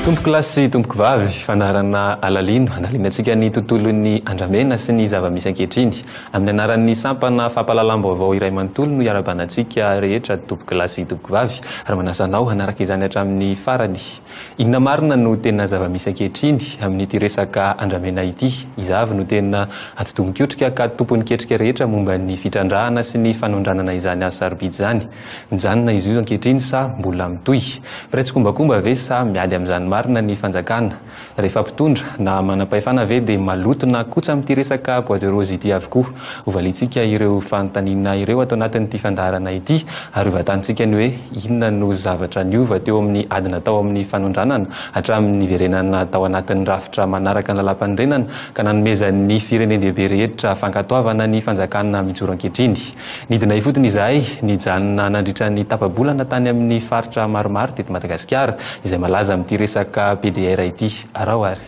Tompoko lahy sy tompoko vavy, fandaharana alalino andalinatsika ny tontolon'ny andramena sy ny zava-misy ankehitriny. Amin'ny anaran'ny sampana fampahalalam-baovao iray manontolo no iarabanantsika rehetra tompoko lahy sy tompoko vavy ary manasa anao hanaraka izany hatramin'ny farany. Inona marina no tena zava-misy ankehitriny amin'ity resaka andramena ity? Iza avy no tena atidoha-mikotrika ka tompon'ny ketrika rehetra momba ny fitrandrahana sy ny fanondranana izany hazo sarobidy izany? Mijanona izy io ankehitriny sa mbola mitohy? Mpiray tsikombakomba ve sa miady amin'izany marina ny fanjakana? Rehefa mpitondra na manam-pahefana ve dia maloto na kotsa amin'ity resaka bois de rose ity avokoa? Hovaliantsika ireo fanontaniana ireo ato anatin'ity fandaharana ity ary hovatanintsika ny hoe inona no zavatra niova teo amin'ny ady natao amin'ny fanondranana hatramin'ny niverenana tao anatin'ny rafitra manaraka ny Lalàmpanorenana ka nanomezan'ny firenen-dehibe rehetra fankatoavana ny fanjakana mijoro ankehitriny. Nidina ifotony izahay, nijanona nandritra ny tapa-bolana tany amin'ny faritra maromaro teto Madagasikara izay malaza amin'ity resaka PDR ity. Araho ary.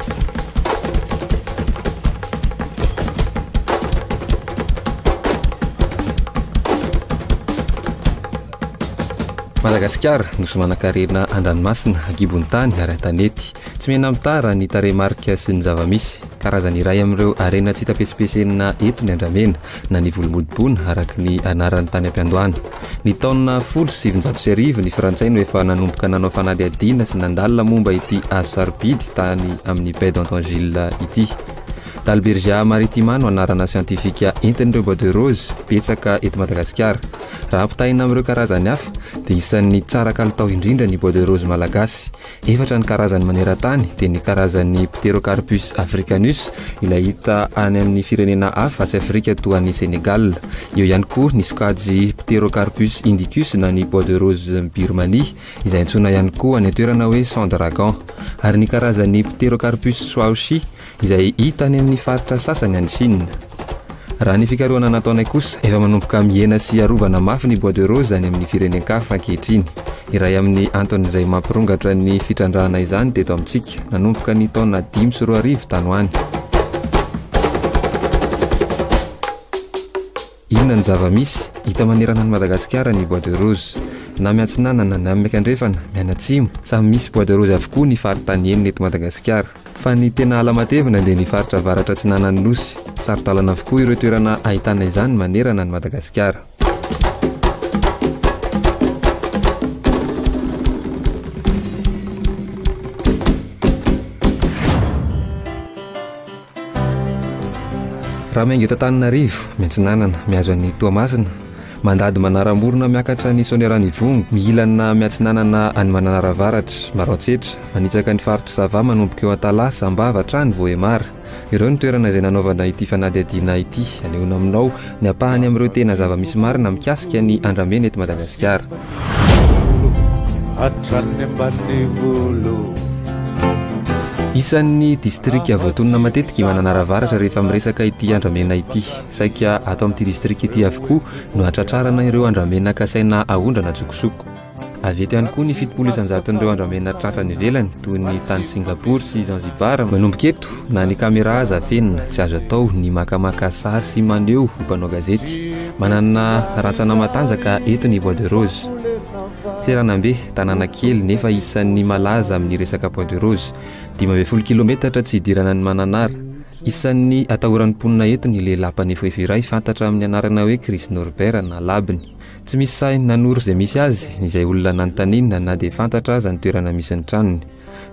Madagasikara, nosy manan-karena an-dranomasina, gibon'ny tany ary an-tanety. Tsy mihena mitara ny tarehimarika sy ny zava-misy. Karazany iray amin'ireo harena tsy hita pesipesenina eto ny andramena. na ny Volomodibona araka ny anarany tany am-piandohana. Ny taona folo sy sivinjato sy arivo, ny Frantsay no efa nanomboka nanao fanadihadiana sy nandalina momba ity hazo sarobidy tany amin'ny Baie d'Antangiles ity. Dalbergia maritima no anarana siantifika entin'ireo bois de rose betsaka eto Madagasikara. Raha ampitahaina amin'ireo karazany hafa, dia isan'ny tsara kalitao indrindra ny bois de rose malagasy, Efatra ny karazany maneran-tany, dia ny karazan'ny Pterocarpus africanus, ilay hita any amin'ny firenena hafa atsy Afrika toa an'i Sénégal. Eo ihany koa ny sokajy Pterocarpus indicus na ny bois de rose Birmanie, izay antsoina ihany koa any an-toerana hoe sang dragon, ary ny karazan'ny Pterocarpus swaoshi, izay hita any amin'ny faritra sasany any Chine. Raha ny fikarohana nataonay kosa, efa manomboka mihena sy arovana mafy ny bois de rose any amin'ny firenen-kafa ankehitriny. Iray amin'ny anton'izay mampirongatra ny fitrandrahana izany teto amintsika, nanomboka ny taona dimy sy roa arivo tany ho any. Inona no zava-misy? Hita manerana an'i Madagasikara ny bois de rose. Na miantsinanana na miankandrefana, mianatsimo, samy misy bois de rose avokoa ny faritany enina eto Madagasikara. Fa ny tena ala matevina dia ny faritra avaratra atsinanan'ny Nosy. Saro-dalana avokoa ireo toerana ahitana izany manerana an'i Madagasikara. Raha miainga eto Antananarivo, miantsinanana, mihazo an'i Toamasina, mandady manara-morona miakatra an'i Soaniaran'Ivongo, mihilana miantsinanana any Mananara Avaratra, Maroantsetra, manitsaka ny faritr'i Sava manomboka eo Antalaha, Sambava hatrany Vohémar. Ireo ny toerana izay nanaovana ity fanadihadiana ity, anehoana aminao. Ny ampahany amin'ireo tena zava-misy marina mikasika ny andramena eto Madagasikara. Hatrany ambany volo. Isan'ny distrika voatonona matetika i Mananara Avaratra rehefa miresaka ity andramena ity. Saika ato amin'ity distrika ity avokoa no ahatratrarana ireo andramena kasaina aondrana an-tsokosoko. Avy eto ihany koa ny fitopolo isan-jaton'ireo andramena tratra any ivelany, toy ny tany Singapour sy Zanzibar. Manomboka eto, na ny caméra aza afenina, tsy azo atao ny makamaka sary sy maneho ho mpanao gazety. Manana rantsana matanjaka eto ny Bois de Rose. Seranambe, tanàna kely nefa isan'ny malaza amin'ny resaka Bois de Rose. Dimy ambin'ny folo kilometatra tsy hidirana an'i Mananara. Isan'ny atahoran'ny mponina eto ny lehilahy mpanefoefo iray fantatra amin'ny anarana hoe Chris Norbert na Labny. Tsy misy sahy nanoro izay misy azy izay olona nanontaniana na dia fantatra aza ny toerana misy ny tranony.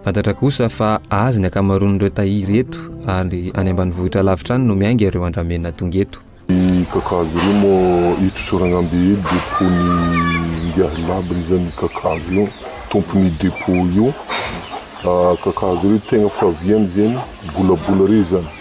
Fantatra kosa fa azy ny ankamaroan'ireo tahiry eto ary any ambanivohitra lavitra any no miainga ireo andramena tonga eto. Ny kakazo ireo moa eto Soragnambe eto depot-n'ny Ingahy Labany izany ny kakazo io, tompon'io depot io. Kakazo ireo tegna faviany zegny, bolabola ireo izany.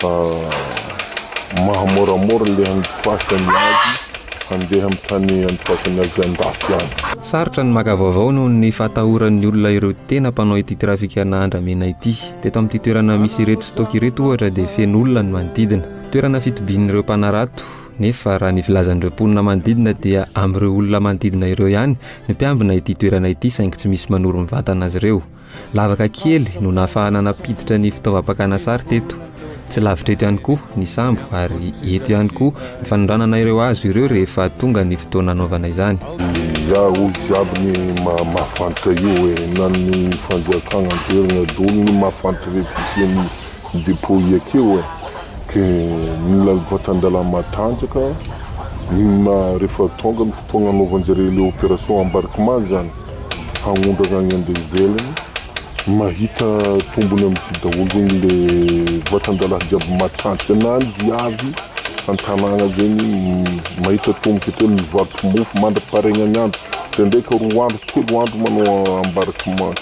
fa mahamoramora le andifasany azy handeha am tany andifasany azy andafy any. Sarotra ny maka vaovao noho ny fahatahoran'ny olona ireo tena mpanao ity trafikana andramena ity. Teto amin'ity toerana misy ireto stock ireto ohatra dia feno olona ny manodidina. Toerana fitobian'ireo mpanarato nefa raha ny filazan'ireo mponina manodidina dia amin'ireo olona manodidina ireo ihany no mpiambina ity toerana ity saingy tsy misy manoro mivantana azy ireo. Lavaka kely no nahafahana nampiditra ny fitaovam-pakana sary teto. Tsy lavitra eto ihany koa ny sambo ary eto ihany koa ny fanondranana ireo hazo ireo rehefa tonga ny fotoana anaovana izany. Izaho hoy jiaby ny mahafantra io hoe na ny fanjakana averina daholo ny mahafantra rehefa isian'ny depot iakeo e! ke ny vatan-dalam matanjaka ny rehefa tonga ny fotoana anaovan-jareo ilay operation embarquement zany. hagnondrana agny ande ivelany mahita tombony amty daholo zegny le vatandalahy jiaby matanty ana diavy antanagna zegny mahita tomboky ateo ny mivarotro mofo mandra paregnagne andro ndraindraika roa andro telo andro manao ambaraky ma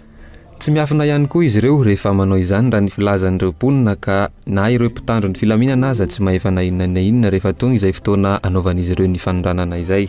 Tsy miafina ihany koa izy ireo rehefa manao izany raha ny filazan'ireo mponina ka na ireo mpitandro ny filaminana aza tsy mahefa na inona na inona rehefa tonga izay fotoana anaovan'izy ireo ny fanondranana izay.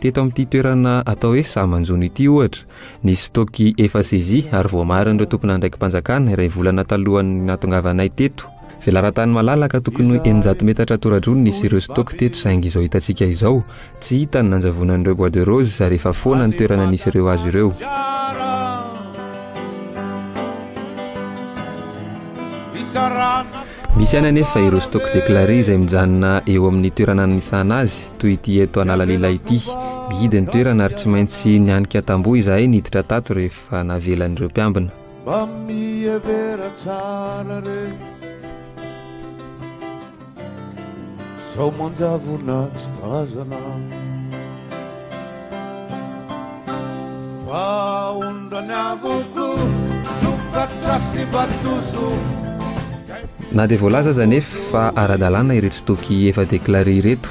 Teto amin'ity toerana atao hoe Sahamanjono ity ohatra, nisy stock efa saisie ary voamarin'ireo tompon'andraiki-panjakana iray volana talohan'ny nahatongavanay teto. Velaran-tany malalaka tokony eninjato metatra tora-drony nisy ireo stock teto saingy izao hitantsika izao, tsy hita ny nanjavonan'ireo bois de rose ary efa foana ny toerana nisy ireo hazo ireo. Misy ihany anefa ireo stock déclaré izay mijanona eo amin'ny toerana anisana azy, toy ity eto Analalila ity. Mihidy ny toerana ary tsy maintsy nianika tamboho izahay niditra tato rehefa navelan'ireo mpiambina. Mba mihevera tsara re Sao manjavona tsy tazana Na dia voalaza aza anefa fa ara-dalàna ireto toky efa déclaré ireto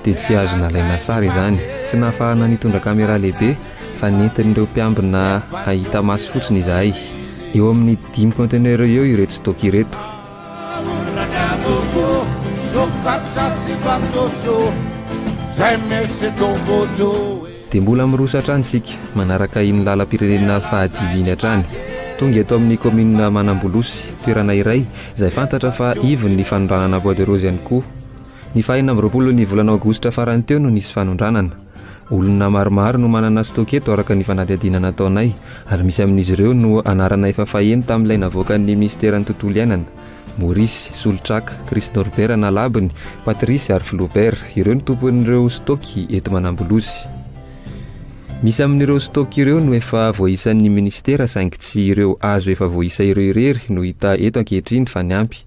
dia tsy azo nalaina sary izany. Tsy nahafahana nitondra caméra lehibe fa nentin'ireo mpiambina hahita maso fotsiny izahay. Eo amin'ny dimy conteneurs eo ireto stock ireto. Dia mbola miroso hatrany isika, manaraka iny lalam-pirenena fahadimy iny hatrany. Tonga eto amin'ny kaominina Manambolosy, toerana iray izay fantatra fa ivon'ny fanondranana bois de rose ihany koa. Ny fahenina amby roapolon'ny volana aogositra farany teo no nisy fanondranana. Olona maromaro no manana stock eto araka ny fanadihadiana nataonay ary misy amin'izy ireo no anarana efa faheno tamin'ilay navoakan'ny Minisitera ny Tontolo Iainana, Maurice, Solotraka, Chris Norbert Nalabony, Patrice ary Flaubert, ireo no tompon'ireo stock eto Manambolosy. Misy amin'ireo stock ireo no efa voaisan'ny Minisitera saingy tsy ireo hazo efa voaisa ireo irery no hita eto ankehitriny fa ny ampy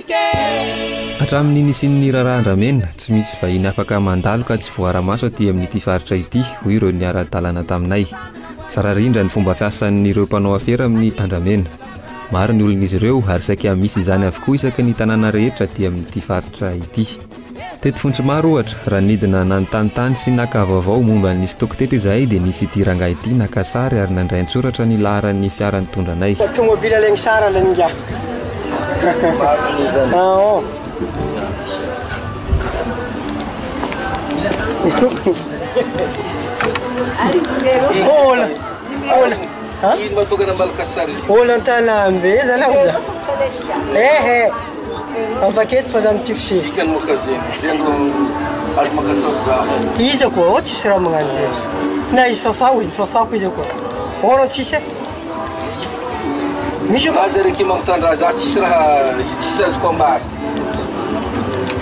Hatramin'ny nisian'ny raharaham-dramena, tsy misy vahiny afaka mandalo ka tsy voara-maso aty amin'ity faritra ity, hoy ireo niara-dalana taminay. Tsara rindra ny fomba fiasan'ireo mpanao afera amin'ny andramena. Maro ny olon'izy ireo ary saika misy izany avokoa isaky ny tanàna rehetra aty amin'ity faritra ity. Teto Fontsomaro ohatra, raha nidina nanontany tany sy naka vaovao momba ny stock teto izahay dia nisy ity rangahy ity naka sary ary nandray an-tsoratra ny laharan'ny fiara nitondra anay. Tomobila lay misara lay ingahy. Olona an-tanambe zalahy. Ehe. Afaketo fa zany tiako sy. Dikany moa ka zegny, zay no azo makasao zaho. Iza koa ô tsisy raha magnano zegny. Na izy fafaho izy fafako izy koa. Ô rô tsisy e. Misy koa. Aza reke mampitandrà za tsisy raha tsisy azoko ambara.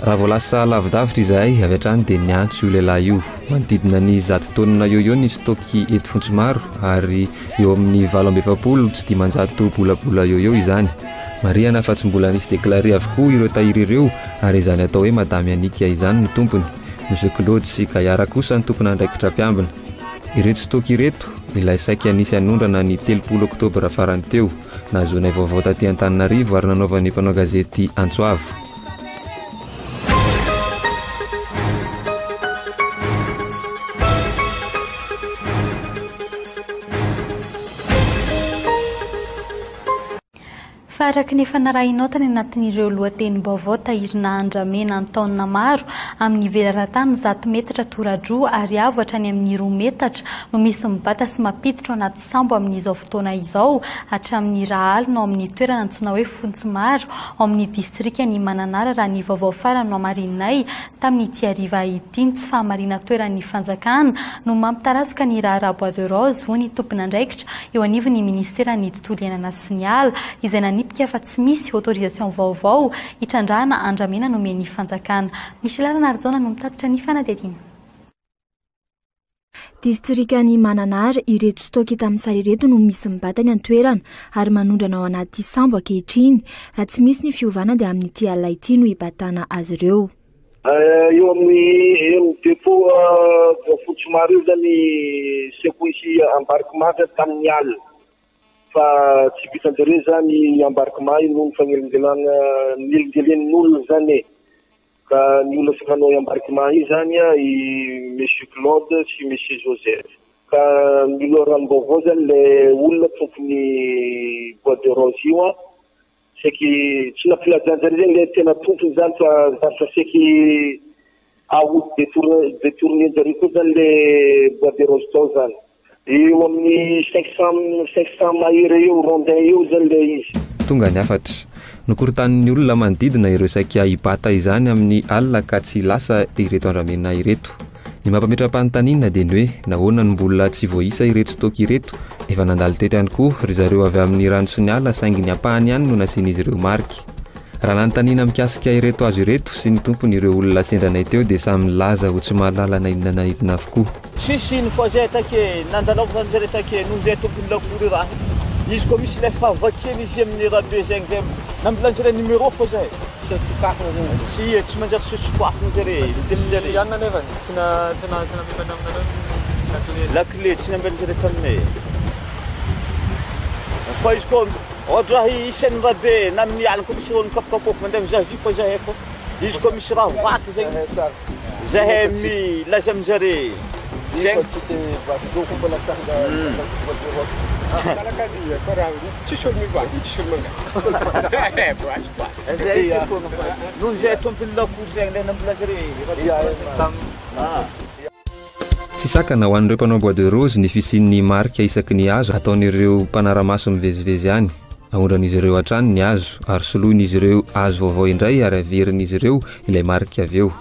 Raha vao lasa lavidavitra izahay avy hatrany dia niantso io lehilahy io. Manodidina ny zato taonina eo eo ny stock-y eto Fontsomaro ary eo amin'ny valo amby efapolo sy dimanjato bolabola eo eo izany. Marihana fa tsy mbola nisy déclaré avokoa ireo tahiry ireo ary izany atao hoe Madame Yannick izany no tompony. Monsieur Claude sy Gayara kosa no tompon'andraikitra mpiambina. Ireto stock-y ireto ilay saika nisy hanondrana ny telopolo oktobra farany teo. Nahazoanay vaovao taty Antananarivo ary nanaovan'ny mpanao gazety antso avo. Fa araka ny efa narahinao tany anatin'ireo lohatenim-baovao tahirina handramena an-taonina maro, amin'ny velaran-tany zato metatra toradroa ary avo hatrany amin'ny roa metatra no misy mibata sy mampiditra ao anaty sambo amin'izao fotoana izao hatramin'ny rahaliny ao amin'ny toerana antsoina hoe Fontsimaro, ao amin'ny distrikan'i Mananara raha ny vaovao farany nohamarininay tamin'ity hariva ity. Ny tsy fahamarinan-toeran'ny fanjakana no mampitarazoka ny raharaha bois de rose, hoy ny tomponandraikitra eo anivon'ny minisiteran'ny tontolo iainana sy ny ala, izay nanipika fa tsy misy autorisation vaovao hitrandrahana andramena nomen'ny fanjakana. Michela Ranarijaona no mitatitra ny fanadihadiana. Distrikan'i Mananara, ireto stock tamin'ny sary ireto no misy mibatany an-toerana ary manondrana ao anaty sambo ankehitriny. Raha tsy misy ny fiovana dia amin'ity alina ity no hibatana azy ireo. Eo amin'ny eny depot Voafotsy Maro eo izany ny secousse embarquement sady tamin'ny alina fa tsy vitan'izy ireo izany embarquement iny noho ny fanelingelan- fanelingelen'ny olona izany e. Ka ny olona tsy manao embarquement izany i Monsieur Claude sy Monsieur Joseph. Ka ny loharanom-baovao izany ilay olona tompon'ny bois de rose io an, saiky tsy nampilazanjareo izany ilay tena tompony izany fa lasa saiky aody detourne detourne-njareo koa izany ilay bois de rose tao izany. Eo amin'ny cinq cent cinq cent mahery eo rondins eo izany ilay izy. Tonga ny hafatra. Nokorontanin'ny olona manodidina ireo saika hibata izany amin'ny alina ka tsy lasa ireto andramena ireto. Ny mampametra-panontaniana dia ny hoe nahoana no mbola tsy voaisa ireto toaka ireto? Efa nandalo teto ihany koa ry zareo avy amin'ny rano sy ny ala saingy ny ampahany ihany no nasian'izy ireo marika. Raha nanontaniana mikasika ireto hazo ireto sy ny tompony ireo olona sendra anay teo dia samy nilaza ho tsy mahalala na inona na inona avokoa. Tsisy ino fa zay take nandalaovany zare take noho zay tompony lakoly raha izy koa misy ilay fahavakiany izy aminy rabe zegny zay nambilany zare numéro fa zay Tsy sokafana zany zare. Tsy ie tsy manjary tsy sokafana zare izy aminy zare. Tsy anona nefa tsy na tsy na tsy namimany aminareo ny lakile. Lakile tsy nambiany zare taminay e. Fa izy koa ôhatra raha isan'ny rabe na amin'ny alina koa misy ôlo mikapokapôka mandeha mizaha vy fa zay efa. izy koa misy raha vaky zegny zay milaza aminjare zegny noho zay tompony lakoly zay le nambola zare Tsy sakana ho an'ireo mpanao bois de rose ny fisian'ny marika isaky ny hazo ataon'ireo mpanara-maso mivezivezy any. Aondran'izy ireo hatrany ny hazo, ary soloin'izy ireo hazo vaovao indray ary averin'izy ireo ilay marika avy eo.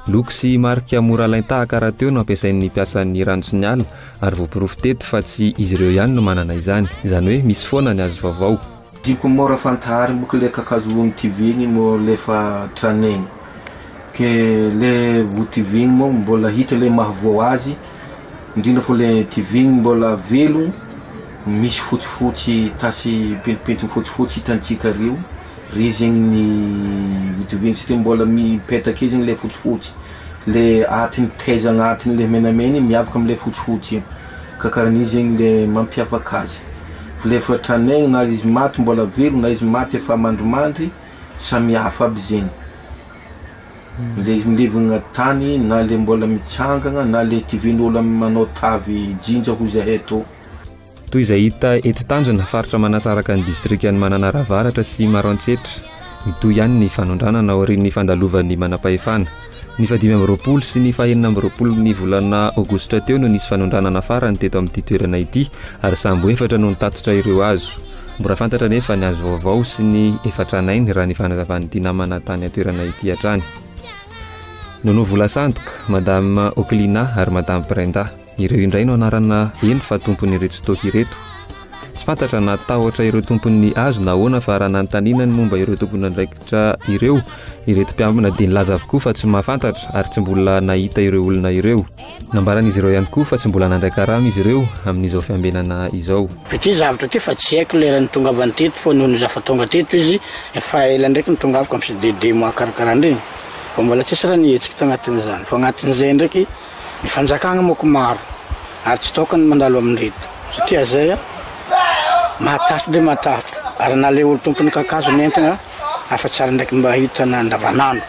Loko sy marika mora alain-tahaka rahateo no ampiasain'ny mpiasan'ny rano sy ny ala, ary voaporofo teto fa tsy izy ireo ihany no manana izany, izany hoe misy foana ny hazo vaovao. Diko mora fantahary moko le kakazo ho notivigny mô le fa traneigny. Ke le votivigny mô mbola hita le maha vao azy. Indrindra fo le diving mbola velo misy fotsifotsy tasy pentimpentin fotsifotsy hitantsika reo re zegny ny dioviana satria mbola mipetaka eo zegny le fotsifotsy le atiny taiza agnatiny le menamena igny miavaka amle fotsifotsy igny ka karan'igny zegny le mampiavaka azy fa le efa tranaigny na izy maty mbola velo na izy maty efa mandrimandry samihafa aby zegny. Mivevimbevognà tany na le mbôla mitsangagna na le tivin'ôlo manao tavy jinja hoy zahay atô. Toy izay hita eto Tanjona, faritra manasaraka ny distrikan'i Mananara Avaratra sy Maroantsetra, mitohy ihany ny fanondranana aorian'ny fandalovan'ny manampahefana. Ny fahadimy amby roapolo sy ny fahenina amby roapolon'ny volana aogositra teo no nisy fanondranana farany teto amin'ity toerana ity ary sambo efatra no nitatitra ireo hazo. Mbola fantatra anefa ny azo vaovao sy ny efa tranainy raha ny fanazavan'ity namana tany an-toerana ity hatrany. Nono vola sandoka, Madame Oklina ary Madame Brenda. Ireo indray no anarana heno fa tompon'ireto stock ireto. Tsy fantatra na tahotra ireo tompon'ny hazo na ahoana fa raha nanontaniana ny momba ireo tompon'andraikitra ireo, ireto mpiambina dia nilaza avokoa fa tsy mahafantatra ary tsy mbola nahita ireo olona ireo. Nambaran'izy ireo ihany koa fa tsy mbola nandray karama izy ireo amin'izao fiambenana izao. Ity zavatra ity fa tsy haiko lera nitongavany teto fa noho ny zafa tonga teto izy efa ela ndraiky nitongavako amin'ny CDD mahakarakara an'ireny fa mbola tsisy raha nihetsika tanatin'izany fa anatin'izay ndraiky Ny fanjakana moko maro ary tsy tokony mandalo amin'ireto satria izay mahatahotra dia mahatahotra ary na ilay olon-tompon'ny kakazo nentina afa tsy ary ndraiky mba hitana andavanandro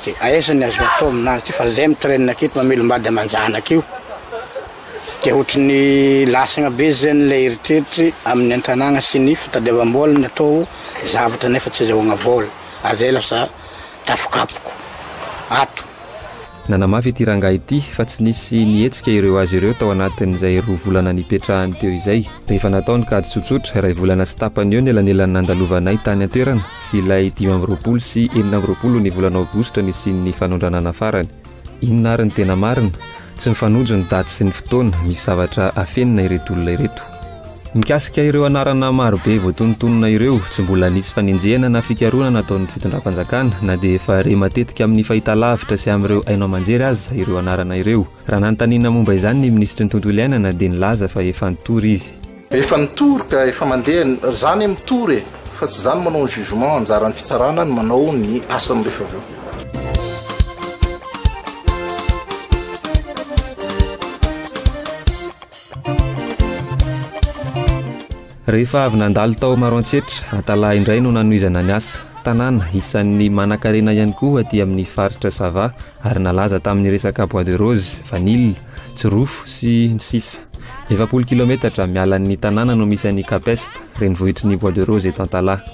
dia aiza ny azo atao aminazy ity fa zay mitrenina aketo mamelombady aman-janaka io dia ohatry ny lasagna be zay n'ilay eritreritry amin'ny an-tanàna sy ny fitadiavam-bola ny atao zavatra nefa tsy azahoagna vola ary zay lasa tafokapoko ato Nanamafy ity rangahy ity fa tsy nisy nihetsika ireo azy ireo tao anatin'izay roa volana nipetrahany teo izay. Rehefa natao ny kajy tsotsotra, iray volana sy tapany eo ny elanelan'ny nandalovanay tany an-toerana sy ilay dimy amby roapolo sy enina amby roapolo ny volana aogositra nisian'ny fanondranana farany. Inona ary ny tena marina? Tsy mifanojo ny daty sy ny fotoana misy zavatra afenina ireto olona ireto. Mikasika ireo anarana marobe voatonontonona ireo, tsy mbola nisy fanenjehana na fikarohana nataon'ny fitondram-panjakana na dia efa re matetika amin'ny fahitalavitra sy amin'ireo haino aman-jery aza ireo anarana ireo. Raha nanontaniana momba izany ny minisitry ny Tontolo iainana dia nilaza fa efa nitory izy. Efa nitory ka efa mandeha ry zany mitory e! Fa tsy zany manao ny jugement, anjaran'ny fitsarana ny manao ny asany rehefa avy eo. Rehefa avy nandalo tao Maroantsetra, Atalahy indray no nanohizana ny asa. Tanàna isan'ny manankarena ihany koa aty amin'ny faritra Sava ary nalaza tamin'ny resaka bois de rose, vanille, jirofo sy ny sisa Efapolo kilaometatra miala ny tanàna no misy an'i Capest, renivohitry ny bois de rose eto Antalaha.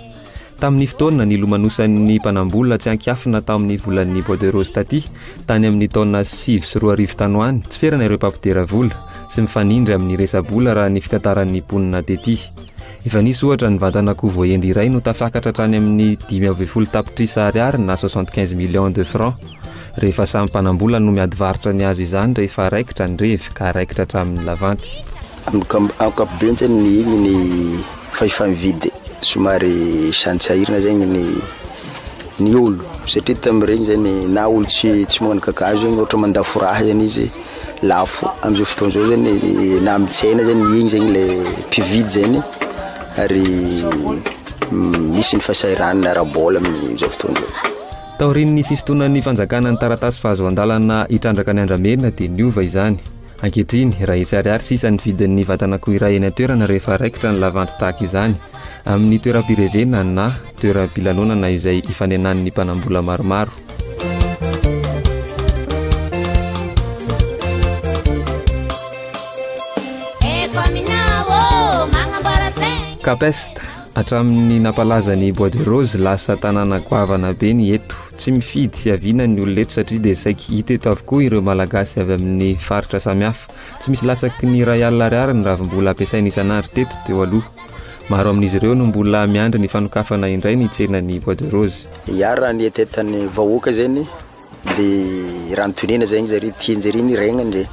Tamin'ny fotoana nilomanosan'ny mpanam-bola tsy an-kiafina tao amin'ny volan'ny Bois de Rose taty, tany amin'ny taona sivy sy roa arivo tany ho any, tsy ferana ireo mpampidera vola sy mifanindry amin'ny resa-bola raha ny fitantaran'ny mponina tety. Efa nisy ohatra nivantan'akoho voahendy iray no tafakatra hatrany amin'ny dimy ambin'ny folo tapitrisa ariary na soixante quinze millions de francs rehefa samy mpanam-bola no miady varotra ny azy izany rehefa raikitra ny revy ka raikitra hatramin'ny lavanty. Ankapobeny zany ny igny ny fa efa mividy somary sahantsahirana zegny ny ny olo satria tamiregny zany na olo tsy tsy magnano kakazo zegny ohatra mandafo raha zany izy lafo amizao fotoana zao zany na amy tsena zany igny zany le mpividy zany ary misy ny fahasahiranana ara-bola amizao fotoana zao. Taorian'ny fisintonan'ny fanjakana ny taratasy fahazoan-dalana hitrandraka ny andramena dia niova izany. Ankehitriny, iray hetsy ariary sisa ny vidin'ny vatan'akoho iray eny an-toerana rehefa raikitra ny lavanty tahaka izany amin'ny toeram-pirevena na toeram-pilanonana izay ifanenan'ny mpanam-bola maromaro. Capest, hatramin'ny nampalaza ny Bois de Rose, lasa tanàna goavana be ny eto. Tsy mifidy fiaviana ny olona eto satria dia saiky hita eto avokoa ireo Malagasy avy amin'ny faritra samihafa. Tsy misy latsaky ny iray alina ariary ny ravimbola ampiasaina isan'andro teto teo aloha. Maro amin'izy ireo no mbola miandry ny fanokafana indray ny tsenan'ny Bois de Rose. Ya raha ny etetan'ny vahoaka zegny de raha ny tonena zegny zare tianjare ny regnany zay.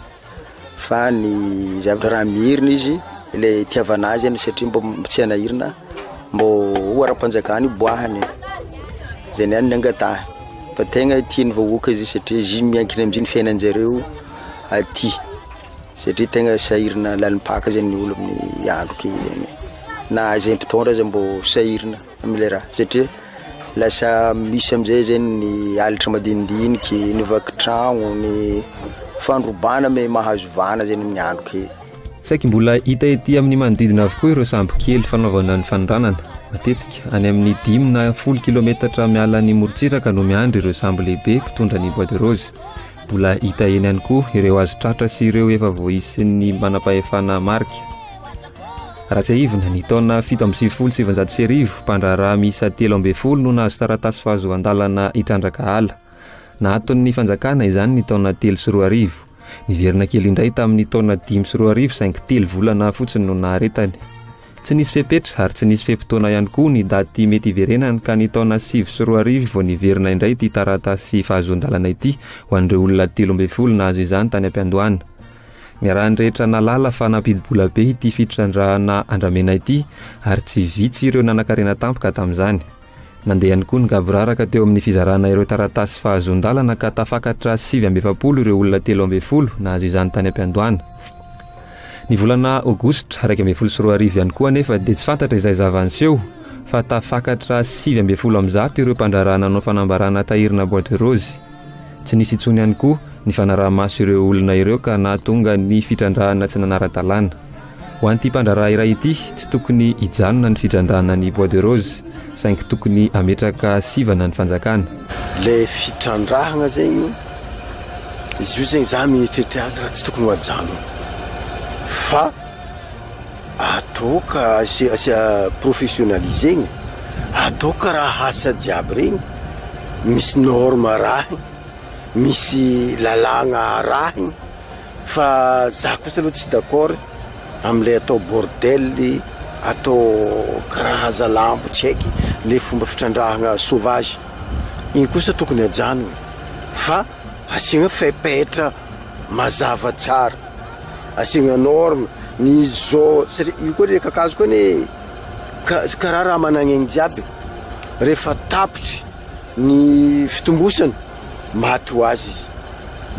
fa ny zavatra raha mihirina izy ilay tiavana azy any satria mbo tsy haina hirina mbo ho ara-panjakana hiboahany zay niany ny angatahiny fa tegna tian'ny vahoaka izy satria izy miankina amizay ny fiainan-jareo aty satria tegna sahirana lalim-paka zany ny olo amin'ny andro kely zany na zay mpitondra aza mbo sahirana amin'ilay raha satria lasa misy amin'izay zegny ny alitra madinidiniky, ny vaky tragno, ny fandrobana me mahazo vana zegny amin'ny andro kely. Saiky mbola hita ety amin'ny manodidina avokoa ireo sambo kely fanaovana ny fanondranana. Matetika, any amin'ny dimy na folo kilometatra miala ny morontsiraka no miandry ireo sambo lehibe mpitondra ny bois de rose. Mbola hita eny ihany koa ireo azo tratra sy ireo efa voaisin'ny manampahefana marika. Raha tsiahivina, ny taona fito amby sivifolo sy sivinjato sy arivo, mpandraharaha miisa telo ambin'ny folo no nahazo taratasy fahazoan-dalana hitrandraka ala. Nahaton'ny fanjakana izany ny taona telo sy roa arivo. Niverina kely indray tamin'ny taona dimy sy roa arivo saingy telo volana fotsiny no naharetany. Tsy nisy fepetra ary tsy nisy fe-potoana ihany koa ny daty mety hiverenany ka ny taona sivy sy roa arivo vao niverina indray ity taratasy fahazoan-dalana ity ho an'ireo olona telo ambin'ny folo nahazo izany tany am-piandohana. Niarahan'ny rehetra nahalala fa nampidi-bola be ity fitrandrahana andramena ity ary tsy vitsy ireo nanan-karena tampoka tamin'izany. Nandeha ihany koa ny gaboraraka teo amin'ny fizarana ireo taratasy fahazoan-dalana ka tafakatra sivy amby efapolo ireo olona telo ambin'ny folo nahazo izany tany am-piandohana. Ny volana Aogositra iraika ambin'ny folo sy roa arivo ihany koa anefa dia tsy fantatra izay zava-niseho fa tafakatra sivy ambin'ny folo amin'ny zato ireo mpandraharaha nanao fanambarana tahirina bois de rose. Tsy nisy intsony ihany koa ny fanaraha-maso ireo olona ireo ka nahatonga ny fitrandrahana tsy nanara-dalàna. Ho an'ity mpandraharaha iray ity, tsy tokony hijanona ny fitrandrahana ny bois de rose saingy tokony hametraka sivana ny fanjakana. Ilay fitrandrahana zegny, izy io zegny za mieritreritra azy raha tsy tokony ho ajanona fa. Adoka asia professionnalisegny adoka raha asa jiaby regny misy norme arahigny misy lalagna arahigny fa za kosa aloha tsy d'accord amle atao bordel atao karaza lambo tsy haiky le fomba fitrandrahagna sauvage igny kosa tokony ajanogny fa asiagna fepetra mazava tsara. asiagna norme ny zo satria io koa le kakazo koa ne karaha raha managn'aigny jiaby rehefa tapitry ny fitombosany maty ho azy izy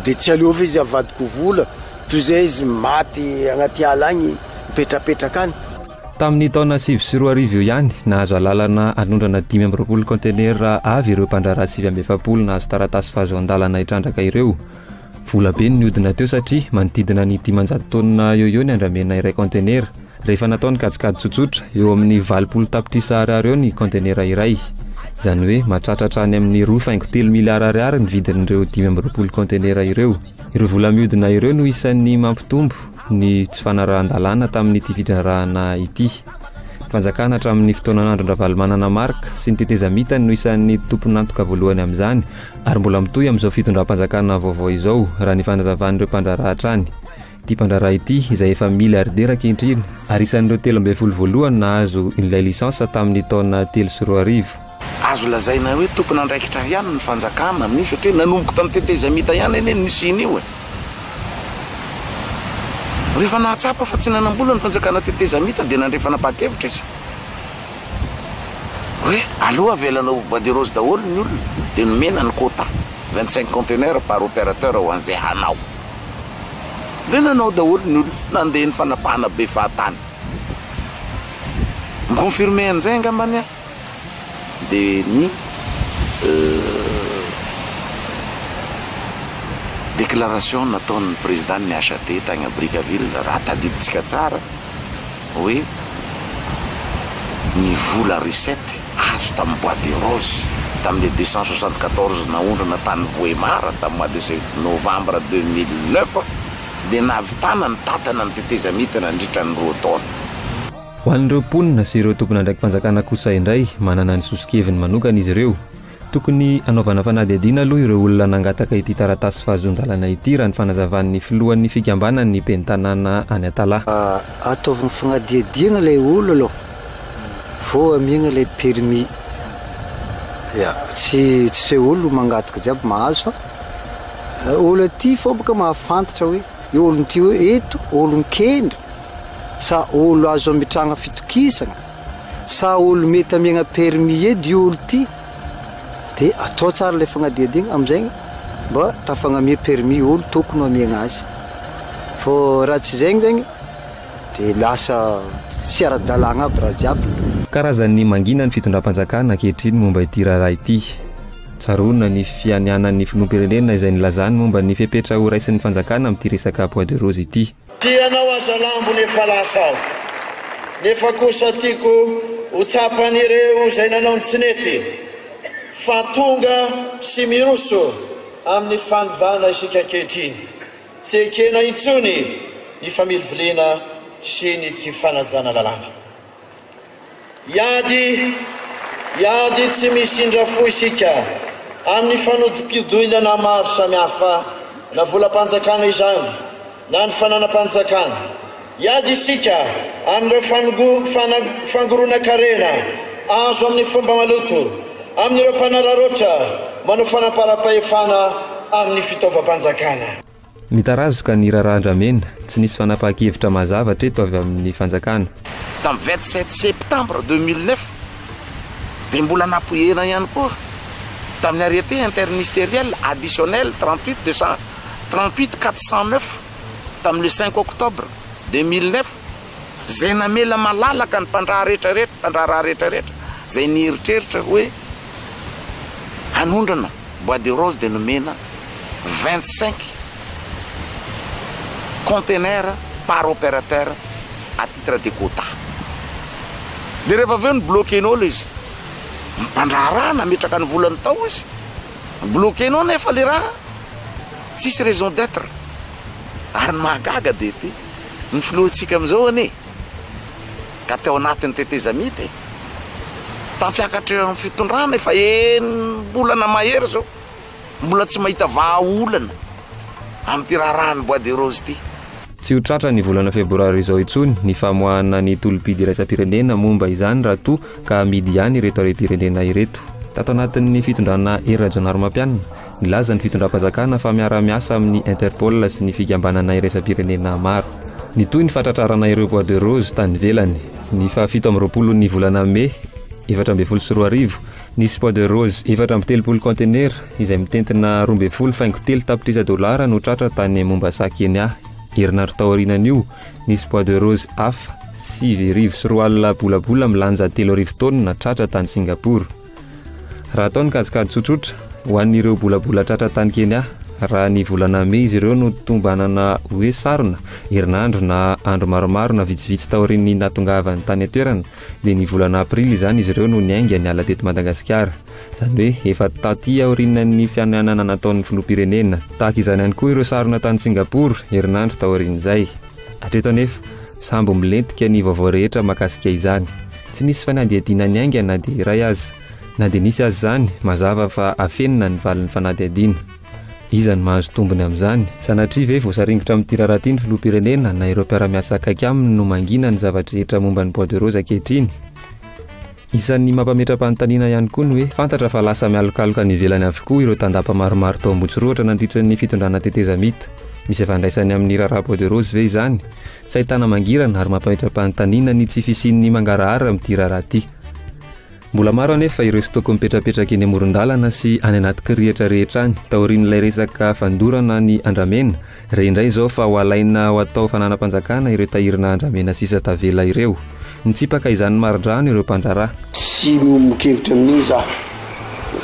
de tsy aleova izy avadiko vola toy zay izy maty agnaty ala agny mipetrapetraka any Tamin'ny taona sivy sy roa arivo eo ihany, nahazo alalana hanondrana dimy amby roapolo kaontenera avy ireo mpandraharaha sivy amby efapolo nahazo taratasy fahazoan-dalana hitrandraka ireo. Vola be no nihodina teo satria manodidina ny dimanjato taonina eo eo ny andramena iray kaontenera. Rehefa natao ny kajikajy tsotsotra, eo amin'ny valopolo tapitrisa ariary eo ny kaontenera iray. Izany hoe mahatratra hatrany amin'ny roa faingo telo miliara ariary ny vidin'ireo dimy amby roapolo kaontenera ireo. Ireo vola mihodina ireo no isan'ny mampitombo ny tsy fanarahan-dalàna tamin'ity fidrarahana ity. Fanjakana hatramin'ny fotoanan'Andron-dRavalomanana Marc sy ny tetezamita no isan'ny tompon'antoka voalohany amin'izany ary mbola mitohy amin'izao fitondram-panjakana vaovao izao raha ny fanazavan'ireo mpandraharaha hatrany. Ity mpandraharaha ity izay efa miliardera ankehitriny ary isan'ireo telo ambin'ny folo voalohany nahazo ilay lisansa tamin'ny taona telo sy roa arivo. Azo lazaina hoe tompon'andraikitra ihany ny fanjakana amin'io satria nanomboka tamin'ny tetezamita ihany anie ny nisian'io e! Rehefa nahatsapa fa tsy nanam-bola ny fanjakana tetezamita dia nandray fanapahan-kevitra izy hoe aleo avelana ho bois de rose daholo ny olona dia nomena ny quota vingt cinq conteneurs par opérateur ho an'izay hanao. Dia nanao daholo ny olona, nandeha ny fanapahana be fahatany. Mi-confirmer an'izay angambany aho. dia ny déclaration nataon'ny président n'ny HAD tany à Brickaville raha tadidintsika tsara hoe ny vola recette azo tamin'ny bois de rose tamin'ilay deux cent soixante quatorze naondrana tany Vohemar tamin'ny mois de novembre deux mille neuf dia nahavitana ny tatana ny tetezamita nandritra ny roa taona. Ho an'ireo mponina sy ireo tompon'andraiki-panjakana kosa indray, manana ny soso-keviny manokana izy ireo. Tokony hanaovana fanadihadiana aloha ireo olona nangataka ity taratasy fahazoan-dalana ity, raha ny fanazavan'ny filohan'ny fikambanan'ny ben'ny tanàna any Antala. Ataovy ny fanadihadiana ilay olona aloha vao amiagna ilay permis. Ya, tsy tsy izay olona mangataka jiaby mahazo fa olona aty fôbaka mahafantatra hoe. Olon ty hoe eto olon kendry sa olo azo amitragna fitokisagna sa olo mety amiagna permis edy io olo ty de atao tsara le fagnadiadiagna amizay mba tafagnamia permis olo tokony ho amiagna azy fô raha tsy zegny zegny de lasa tsy aradalagna aby raha jiaby. Karazan'ny mangina ny fitondram-panjakana ankehitriny momba ity raharaha ity. Tsaroana ny fianianan'ny filoham-pirenena izay nilazany momba ny fepetra ho raisin'ny fanjakana amin'ity resaka bois de rose ity. Tia anao aza lambony efa lasa aho nefa kosa tiako ho tsapan'ireo izay nanao ny tsy nety fa tonga sy miroso amin'ny fanovana isika ankehitriny. Tsy ekena intsony ny familiviliana sy ny tsy fanajana lalàna. Hiady, hiady tsy misindra fo isika amin'ny fanodikodinana maro samihafa, na volam-panjakana izany na ny fananam-panjakana. Hiady isika amin'ireo fangoronan-karena azo amin'ny fomba maloto amin'ireo mpanararaotra manao fanamparam-pahefana amin'ny fitaovam-panjakana. Mitarazoka ny raharaha andramena, tsy nisy fanapahan-kevitra mazava hatreto avy amin'ny fanjakana. Tamin'ny vingt sept septembre deux mille neuf dia mbola napoiherina ihany koa tamin'ny arrêté interministériel additionnel trente huit deux cent trente huit quatre cent neuf tamin'ny le cinq octobre deux mille neuf izay namela malalaka ny mpandraha rehetrarehetra mpandraharaha rehetrarehetra izay nieritreritra hoe hanondrana Bois de rose dia nomena vingt cinq containers par opérateur à titre de quota. Dia rehefa avy eo no bloquer-nao ilay izy. Mpandraharaha nametraka ny volany tao izy. Bloquer-nao nefa ilay raha, tsisy raison d'être. Ary ny mahagaga dia ity, ny filohantsika amin'izao anie, ka teo anatin'ny tetezamita e! Tafiakatra eo amin'ny fitondrana efa enim-bolana mahery izao, mbola tsy mahita vahaolana amin'ity raharahan'ny bois de rose ity. Tsy ho tratra ny volana febroary izao intsony ny famoahana ny tolom-pidy iraisam-pirenena momba izany raha toa ka hamidy ihany ireto harem-pirenena ireto. Tato anatin'ny fitondrana Hery Rajaonarimampianina, Nilaza ny fitondram-panjakana fa miara-miasa amin'ny Interpol sy ny fikambanana iraisam-pirenena maro. Nitohy ny fahatratrarana ireo bois de rose tany ivelany. Ny fahafito amby roapolo ny volana Mey efatra ambin'ny folo sy roa arivo, nisy bois de rose efatra amby telopolo kaontenera izay mitentina roa ambin'ny folo faingo telo tapitrisa dolara no tratra tany Mombasa, Kenya. Herinandro taorianan'io, nisy bois de rose hafa sivy arivo sy roa alina bolabola milanja telo arivo taonina tratra tany Singapour. Raha atao ny kajikajy tsotsotra, ho an'ireo bolabola tratra tany Kenya, raha ny volana mey izy ireo no tombanana hoe sarona, herinandro na andro maromaro na vitsivitsy taorian'ny nahatongavany tany an-toerana, dia ny volana aprily izany izy ireo no niainga niala teto Madagasikara. Izany hoe efa taty aorianan'ny fianianana nataon'ny filoham-pirenena. Tahaka izany ihany koa ireo sarona tany Singapour, herinandro taorian'izay. Hatreto anefa, sambo milentika ny vaovao rehetra mahakasika izany. Tsy nisy fanadihadiana niainga na dia iray aza. Na dia nisy aza izany, mazava fa afenina ny valin'ny fanadihadiana. Iza no mahazo tombony amin'izany? Sanatria ve voasaringotra amin'ity raharaha ity ny filoham-pirenena na ireo mpiara-miasa akaiky aminy no mangina ny zava-drehetra momba ny Bois de Rose ankehitriny? Isan'ny mampametra-panontaniana ihany koa ny hoe, fantatra fa lasa mialokaloka any ivelany avokoa ireo tandapa maromaro tao Ambohitsorohatra nandritra ny fitondrana tetezamita. Misy ifandraisany amin'ny raharaha Bois de Rose ve izany? Tsy ahitana mangirana ary mampametra-panontaniana ny tsy fisian'ny mangarahara amin'ity raharaha ity. Mbola maro anefa ireo stock mipetrapetraka eny amoron-dalana sy any anaty kiriatra rehetra any, taorian'ilay resaka fandorana ny andramena, re indray izao fa ho alaina ho atao fananam-panjakana ireo tahirina andramena sisa tavela ireo. Nitsipaka izany maridrano ireo mpandraharaha. Tsy miombon-kevitra amin'io za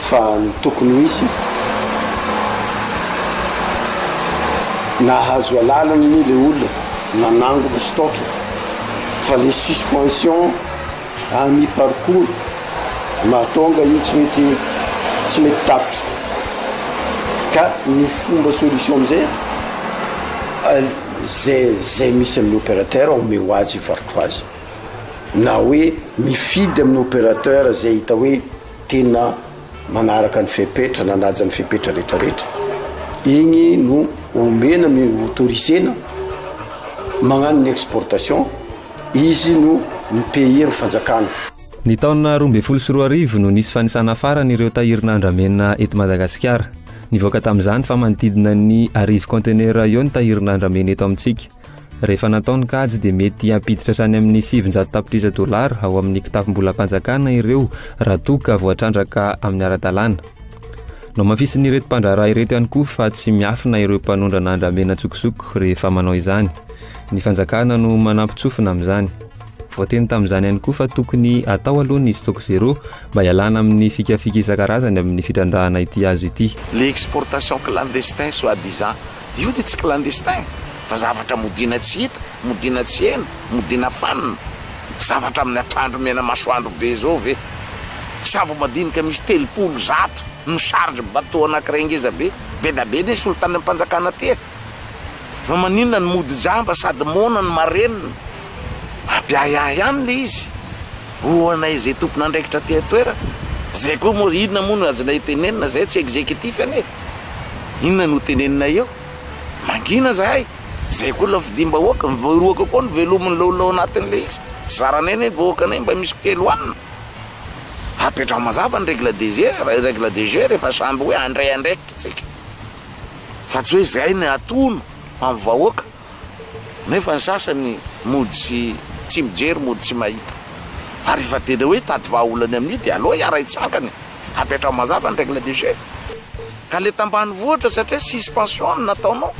fa ny tokony ho izy nahazo alalana anie le olona nanangona stock e fa le suspension à mi parcours mahatonga io tsy mety tsy mety tapitra ka ny fomba solution amizay zay zay misy amin'ny opérateur omeo azy i ho azy na hoe mifidy amin'ny opérateur izay hita hoe tena manaraka ny fepetra nanaja ny fepetra rehetrarehetra igny no omena mi autorisena magnano ny exportation izy no mipayer ny fanjakana Ny taona roa ambin'ny folo sy roa arivo no nisy fanisana farany ireo tahirina andramena eto Madagasikara. Nivoaka tamin'izany fa manodidina ny arivo kaontenera eo ny tahirina andramena eto amintsika. Rehefa natao ny kajy dia mety hampiditra hatrany amin'ny sivinjato tapitrisa dolara ao amin'ny kitapom-bolam-panjakana ireo raha toa ka voatrandraka amin'ny ara-dalàna. Nohamafisin'ireto mpandraharaha ireto ihany koa fa tsy miafina ireo mpanondrana andramena an-tsokosoko rehefa manao izany. Ny fanjakana no manampin-tsofina amin'izany. Voateny tamin'izany ihany koa fa tokony hatao aloha ny stock zero mba hialana amin'ny fikafika isan-karazany amin'ny fitrandrahana ity hazo ity. Les exportations clandestines soi-disant Io dia tsy clandestin fa zavatra modiana tsy hita, modiana tsy heno, modiana fanina. Zavatra amin'ny akandro mena masoandro be izao ve? Sambo madinika misy telopolo, zato no charge bateau anankiray ngeza be, be da be ne solontanim-panjakana aty e! Fa maninona no mody jamba sady moana no marenina? Mampiahiahy ihany le izy. Ho anay izay tompon'andraikitra aty an-toerana, izay koa moa, inona moa no azonay tenenina, izahay tsy executif anie e! Inona no hoteneninay eo? Mangina izahay, izay koa lafidim-bahoaka, ny vahoaka koa no velomin'ny laolao anatin'ilay izy, tsy zaranay anie ny vahoakanay mba misy kely hohanina. Apetraho mazava ny règle de jeu, règle de jeu rehefa samy hoe handray andraikitra isika, fa tsy hoe izahay no hatono amin'ny vahoaka. Nefa ny sasany mody sy tsy mijery mody tsy mahita. Fa rehefa tena hoe hitady vahaolana amin'io dia aleo iarahi-tsangana e! Apetraho mazava ny règle de jeu. Ka le tambanivohitra satria suspension no nataonao.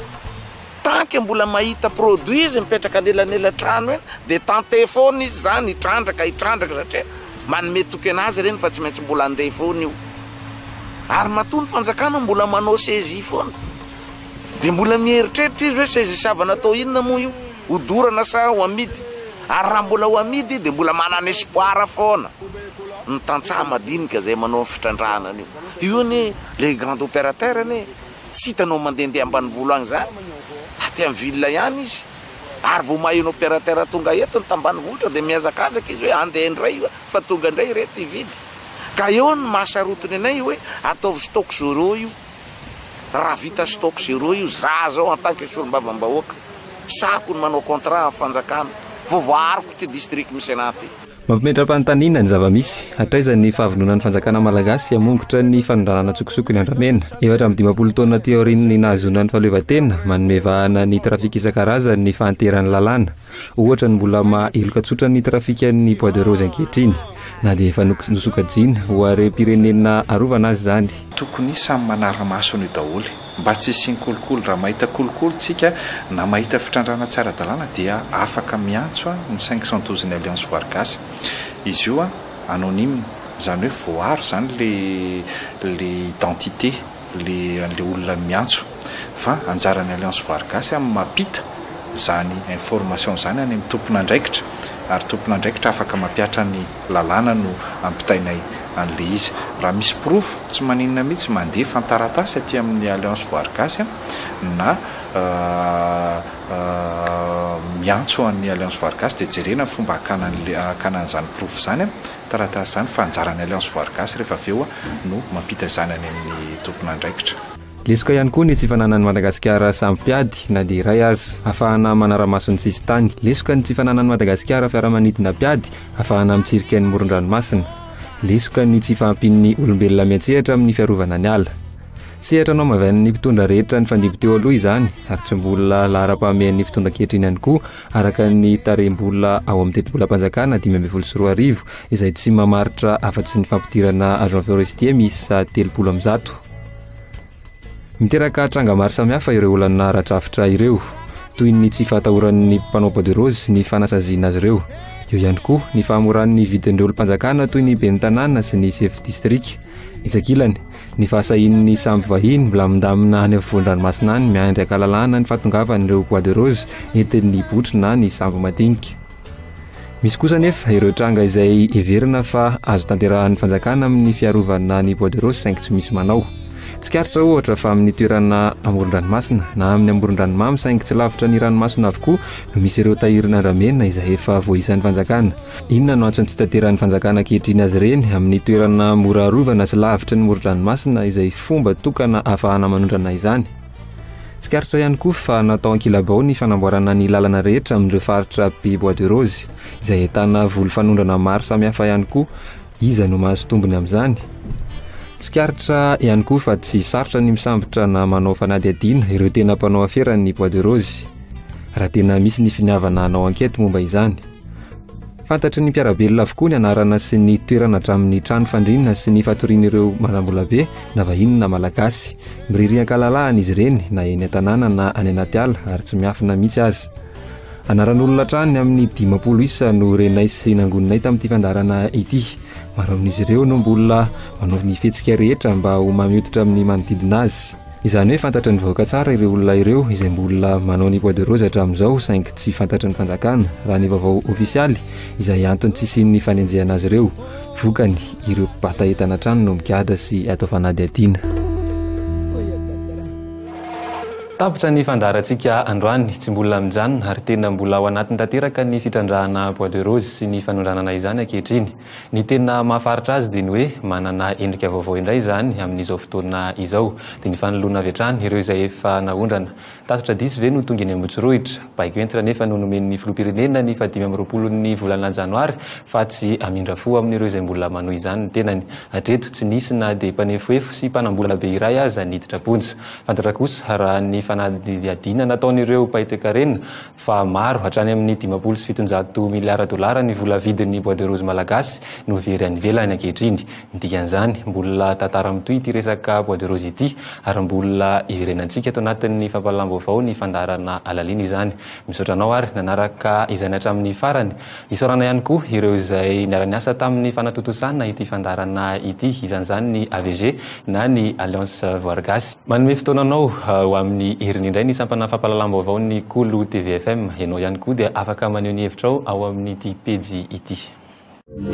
Tant que mbola mahita produit izy mipetraka anelanelan-trano eny dia tenter foana izy zany hitrandraka hitrandraka satria manome toky anazy ireny fa tsy maintsy mbola handeha foana io. Ary matoa ny fanjakana mbola manao saisie foana. Dia mbola mieritreritra izy hoe seza isiavana atao inona moa io? Ho dorana sa ho amidy? Ary raha mbola ho amidy dia mbola manana espoir foana ny tantsaha madinika izay manao ny fitrandrahana an'io. Io anie les grands opérateurs anie tsy hitanao mandehandeha ambanivolo any izany, aty amin'ny ville ihany izy. Ary vao maheno opérateur tonga eto ny tambanivohitra dia mihazakazaka izy hoe andeha indray io fa tonga indray ireto hividy. Ka eo ny maha sarotiny anay hoe ataovy stock zero io. Raha vita stock zero io, za zao en tant que solombavambahoaka, sahako ny manao contrat amin'ny fanjakana, vao voaariko ity district Misenà ity. Mampimetra-panontaniana ny zava-misy. Hatraiza ny fahavononan'ny fanjakana malagasy hamongotra ny fanondranana an-tsokosoko ny andramena? Efatra amby dimampolo taona aty aorian'ny nahazoana ny fahaleovantena, manome vahana ny trafic isan-karazany ny fahanteran'ny lalàna. Ohatra ny mbola maha heloka tsotra ny trafikan'ny bois de rose ankehitriny, na dia efa nosokajiana ho harem-pirenena arovana aza izany. Tokony samy manara-maso an'io daholo mba tsy hisian'ny kolikoly. Raha mahita kolikoly tsika na mahita fitrandrahana tsy ara-dalàna dia afaka miantso ny cinq cent douze ny Alliance Voary Gasy. Izy io anonyme, izany hoe voaaro izany ilay identité. le anle olona miantso fa anjarany alliance voarigasy an mapita zany information zany any am tomponandraikitra ary tomponandraikitra afaka mapiatra ny lalàna no ampitainay anle izy raha misy porofo tsy maninona mitsy mande fantaratasy aty aminy alliance voarigasy an na miantso any alliance voarigasy de jerena fomba akana anle akana anzany porofo zany an. taratasy izany fa anjaran'ny Alliance Voary Gasy rehefa avy eo no mampita izany any amin'ny tompon'andraikitra. Lesoka ihany koa ny tsy fananan'i Madagasikara sambo mpiady na dia iray aza afahana manara-maso ny sisin-tany. Lesoka ny tsy fananan'i Madagasikara fiaramanidina mpiady afahana mitsirika ny moron-dranomasina. Lesoka ny tsy fahampian'ny olombelona miantsehatra amin'ny fiarovana ny ala. Sehatra nohamavianin'ny mpitondra rehetra nifandimby teo aloha izany ary tsy mbola laharam-pahamehan'ny fitondra ankehitriny ihany koa araka ny tarehim-bola ao amin'ny tetibolam-panjakana dimy ambin'ny folo sy roa arivo izay tsy mamaritra afa-tsy ny fampidirana agent forestier miisa telopolo amin'ny zato. Miteraka tranga maro samihafa ireo olana ara-drafitra ireo, toy ny tsy fahatahoran'ny mpanao bois de rose ny fanasaziana azy ireo. Eo ihany koa ny fahamoran'ny vidin'ireo olom-panjakana toy ny ben'ny tanàna sy ny sefo distrika. Etsy ankilany, Ny fahasahian'ny sambo vahiny milamindamina any afovoan-dranomasina any miandry an-kalalahana ny fahatongavan'ireo bois de rose entin'ny botry na ny sambo madinika. Misy kosa anefa ireo tranga izay heverina fa azo tanterahan'ny fanjakana amin'ny fiarovana ny bois de rose saingy tsy misy manao. Tsikaritra ohatra fa amin'ny toerana amoron-dranomasina na amin'ny amoron-dranomamy saingy tsy lavitra ny ranomasina avokoa no misy ireo tahirin'andramena izay efa voaisan'ny fanjakana. Inona no antson'ny tsitanterahan'ny fanjakana ankehitriny azy ireny amin'ny toerana mora arovana sy lavitry ny moron-dranomasina izay fomba tokana ahafahana manondrana izany? Tsikaritra ihany koa fa natao ankilabao ny fanamboarana ny lalana rehetra amin'ireo faritra be bois de rose izay ahitana voly fanondrana maro samihafa ihany koa. Iza no mahazo tombony amin'izany? Tsikaritra ihany koa fa tsy sarotra ny misambotra na manao fanadihadiana ireo tena mpanao aferan'ny bois de rose raha tena misy ny finiavana hanao ankety momba izany. Fantatry ny mpiara-belona avokoa ny anarana sy ny toerana hatramin'ny trano fandriana sy ny fatorian'ireo manambolabe na vahiny na Malagasy. Miriria an-kalalahana izy ireny na eny an-tanàna na any anaty ala ary tsy miafina mihitsy aza. Anaran'olona hatrany amin'ny dimampolo isa no renay sy nangoninay tamin'ity fandaharana ity. Maro amin'izy ireo no mbola manao ny fihetsika rehetra mba ho mahay mihoditra amin'ny manodidina azy. Izany hoe fantatry ny vahoaka tsara ireo olona ireo izay mbola manao ny bois de rose hatramin'izao saingy tsy fantatry ny fanjakana raha ny vaovao ofisialy izay antony tsy hisian'ny fanenjehana azy ireo. Vokany, ireo mpibata entana hatrany no migadra sy atao fanadihadiana. Tapitra ny fandaharantsika androany, tsy mbola mijanona ary tena mbola ao anatiny tanteraka ny fitrandrahana bois de rose sy ny fanondranana izany ankehitriny. Ny tena mahafaritra azy dia ny hoe manana endrika vaovao indray izany amin'izao fotoana izao. Dia ny fanoloana avy hatrany ireo izay efa naondrana. Tatitra diso ve no tonga eny Ambohitsirohitra? Baiko entitra anefa no nomen'ny Filoham-pirenena ny fahadimy amby roapolon'ny volana janoary fa tsy hamindra fo amin'ireo izay mbola manohy izany ny tenany. Hatreto tsy nisy na dia mpanefoefo sy mpanam-bola be iray aza niditra am-ponja. Fantatra kosa raha ny fanadihadiana nataon'ireo mpahay toekarena fa maro, hatrany amin'ny dimampolo sy fitonjato miliara dolara ny vola vidin'ny bois de rose malagasy no very any ivelany ankehitriny. Ny dikan'izany, mbola tantara mitohy ity resaka bois de rose ity ary mbola hiverenantsika ato anatin'ny fampahalalam-baovao ny fandaharana halalina izany. Misaotra anao ary nanaraka izany hatramin'ny farany. Isaorana ihany koa ireo izay niara-niasa tamin'ny fanatontosana ity fandaharana ity, isan'izany ny AVG na ny Alliance Voary Gasy. Manome fotoananao ho amin'ny heriny indray ny sampana fampahalalam-baovaon'ny Kolo TV FM. Ianao ihany koa dia afaka maneho ny hevitrao ao amin'ity pejy ity.